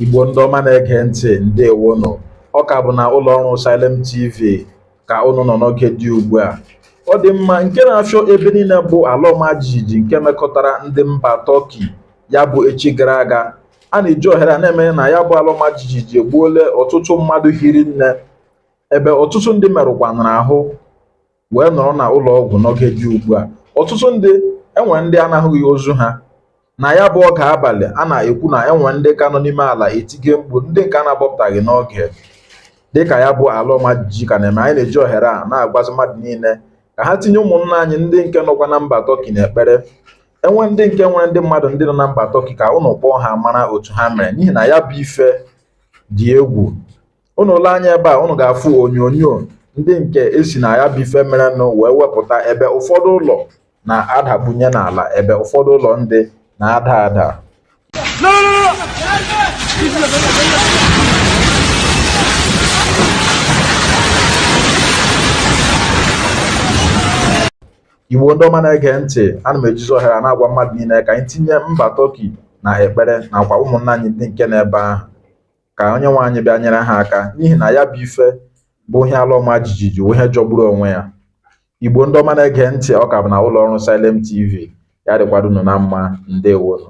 igbo ndị ọma na-ege ntị ndewonụ ọ ka bụ na ụlọ ọrụ Salem TV ka ụnụ nọ n'oge dị ugbu a ọ dị mma nke na-afịọ ebe niile bụ ala ọma jijiji nke mekọtara ndị mba Tọki ya bụ echi gara aga a na-eji ohere a na-eme na ya bụ ala ọma jijiji egbuole ọtụtụ mmadụ hiri nne ebe ọtụtụ ndị merụkwanara ahụ wee nọrọ na ụlọ ọgwụ n'oge dị ugbu a ọtụtụ ndị enwe ndị a na-ahụghị ozu ha na ya bụ oge abalị a na-ekwu na enwe ndị ka nọ n'ime ala etige mkpu ndị nke a na-akpọpụtaghị n'oge dịka ya bụ ala ọma jijiji ka na-eme anyị na-eji ohere a na-agwazi mmadụ niile ka ha tinye ụmụnna anyị ndị nke nọkwa na mba tọki n'ekpere enwe ndị nke nwere ndị mmadụ ndị nọ na mba tọki ka ụnụ kpọọ ha mara otu ha mere n'ihi na ya bụ ife dị egwu ụnụ lee anya ebe a ụnụ ga-afụ onyonyo ndị nke esi na ya bụ ife merenụ wee wepụta ebe ụfọdụ ụlọ na-adabunye n'ala ebe ụfọdụ ụlọ ndị na-ada ada igbo ndị ọma na-ege ntị ana m ejizi ohere a na-agwa mmadụ niile ka anyị tinye mba tọki na ekpere nakwa ụmụnna anyị ndị nke nọ ebe ahụ ka onye nwe anyị bịa nyere ha aka n'ihi na ya bụ ife bụ ihe ala ọma jijiji ihe jọgburu onwe ya igbo ndị ọma na-ege ntị ọ ka bụ na ụlọ ọrụ Salem TV ya dịkwara ụnụ na mma ndewonụ